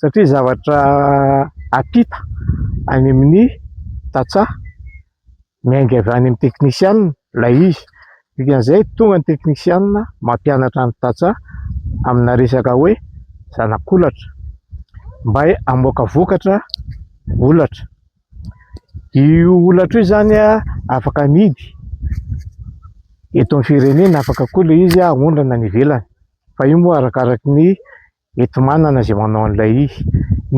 satria zavatra ampita any amin'ny tantsaha, miainga avy any amin'ny teknisianina ilay izy, dikan'izay tonga ny teknisianina mampianatra ny tantsaha amina resaka hoe zanak'olatra mba hamoaka vokatra olatra, io olatra io izany afaka amidy eto amin'ny firenena, afaka koa ilay izy aondrana any ivelany fa io moa arakaraky ny enti-manana izay manao an'ilay izy.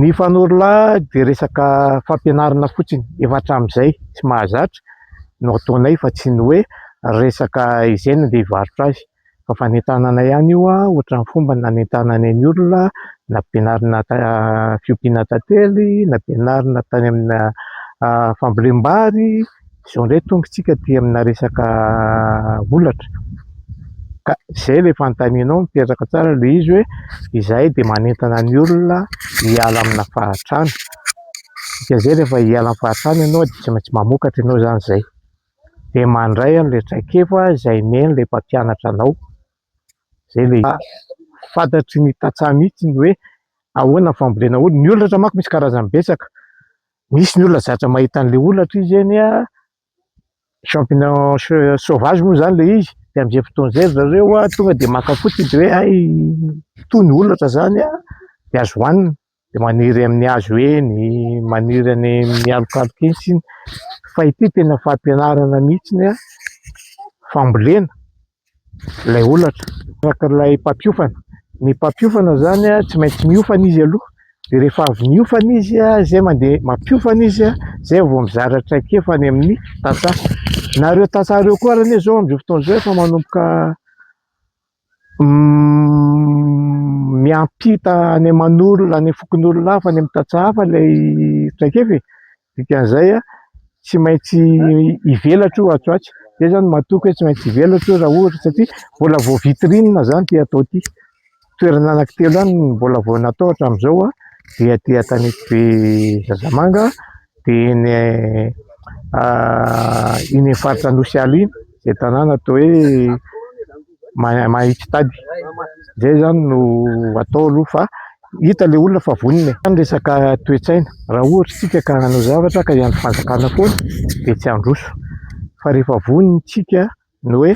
Ny fanorolahy dia resaka fampianarana fotsiny efa hatramin'izay sy mahazatra no ataonay fa tsy ny hoe resaka izay no andeha hivarotra azy fa fanentanana ihany io ohatran'ny fomba nanentananay ny olona nampianarina fiompiana tantely, nampianarina tany amina fambolem-bary. Izao indray tonga isika aty amina resaka holatra ka izay ilay fanontanianao mipetraka tsara ilay izy hoe izahay dia manentana ny olona hiala amina fahantrana, dikan'izay rehefa hiala amin'ny fahantrana ianao dia tsy maintsy mamokatra ianao izany izay, dia mandray an'ilay traikefa izay omen'ilay mpampianatra anao, izay ilay izy. Fantatry ny tantsaha mihitsy ny hoe ahoana ny fambolena olona, ny holatra manko misy karazany betsaka, Misy ny olona zatra mahita an'ilay holatra izy eny a, champignons sauvages moa izany ilay izy, dia amin'izay fotoana izay ry zareo a, tonga dia maka fotsiny dia hoe hay toa ny holatra izany a, dia azo hohanina, dia maniry amin'ny hazo eny, maniry any amin'ny alokaloka eny sisa, fa ity tena fampianarana mihitsy ny a fambolena. ilay holatra, tahaka ilay mpampiofana, ny mpampiofana izany a tsy maintsy miofana izy aloha dia rehefa avy niofana izy a zay mandeha mampiofana izy a zay vao mizara traikefa any amin'ny tantsaha, na ireo tantsaha ireo koa ary anie zao amin'izao fotoana izao efa manomboka miampita any aman'olona any fokonolona hafa any amin'ny tantsaha hafa ilay traikefa e! Dikan'izay, tsy maintsy hivelatra io atsy ho atsy. Izay izany no mahatoky hoe tsy maintsy hivelatra io raha ohatra, satria mbola vao vitrine izany ity atao ity. Toerana anankitelo ihany no mbola vao natao hatramin'izao, dia aty Antanetibe Zazamanga, dia iny faritra Anosiala iny. Izay tanàna atao hoe Maha- Mahitsitady izay izany no atao aloha fa hita ilay olona fa vonona e. Fa ny resaka toe-tsaina, raha ohatra isika ka hanao zavatra ka hiandry fanjakana foana dia tsy handroso fa rehefa vonona isika ny hoe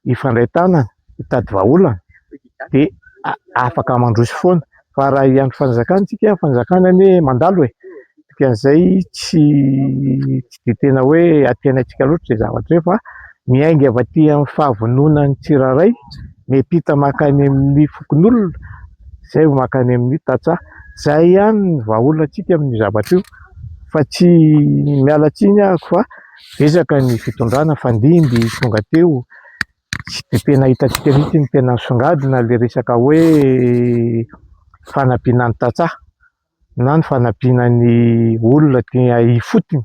hifandray tanana, hitady vahaolana dia afaka mandroso foana fa raha hiandry fanjakana isika, ny fanjakana anie mandalo e! dikan'izay tsy dia tena hoe aty antsika loatra izay zavatra izay fa miainga avy aty amin'ny fahavononan'ny tsirairay, miampita mankany amin'ny fokonolona izay vao mankany amin'ny tantsaha, izay ihany no vahaolantsika amin'io zavatra io fa tsy miala tsiny aho fa betsaka ny fitondrana, nifandimby tonga teo Dia tena hitantsika mihitsy ny tena misongadina ilay resaka hoe fanampiana ny tantsaha na ny fanampiana ny olona aty ifotony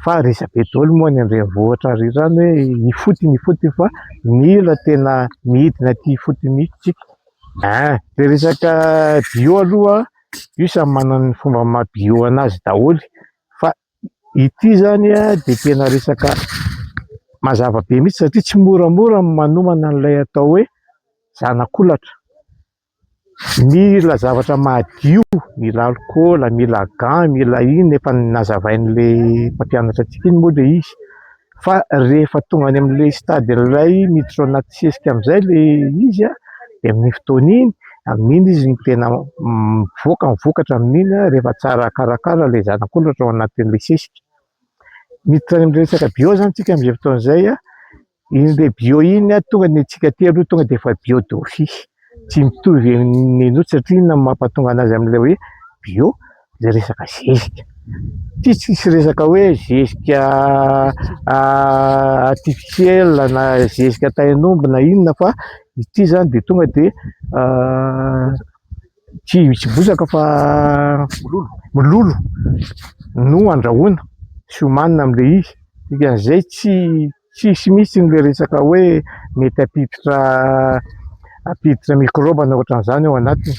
fa resabe daholo moa any an-drenivohitra ary izany hoe ifotony ifotony fa mila tena midina aty ifotony mihitsy isika. Ah, le resaka bio aloha io samy manana ny fomba maha bio an'azy daholo fa Ity izany dia tena resaka mazava be mihitsy satria tsy moramora ny manomana an'ilay atao hoe zanak'olatra. Mila zavatra madio, mila alikaola, mila gants, mila inona, efa nazavain'ilay mpampianatra antsika iny moa ilay izy. fa rehefa tonga any amin'ilay stade iray miditra ao anaty sesika amin'izay ilay izy a, dia amin'iny fotoana iny, amin'iny izy no tena mivoaka, ny vokatra amin'iny a, rehefa tsara karakara ilay zanak'olona tao anatin'ilay sesika. Miditra any amin'ny resaka bio izany isika amin'izay fotoana izay a, iny dia bio iny a, tonga ny antsika aty aloha tonga dia efa bio d'office, tsy mitovy amin'ny an'ny autres satria inona no mampahatonga an'azy amin'ilay hoe bio? le resaka zezika ty tsisy resaka hoe zezika artificiel na zezika tain'omby na inona fa ity zany de tonga de tsy tsy bozaka fa mololo no andrahoina sy homanina amle izy dikan'izay tsy tsisy mihitsy le resaka hoe mety hampiditra hampiditra mikrobana ohatran'izany ao anatiny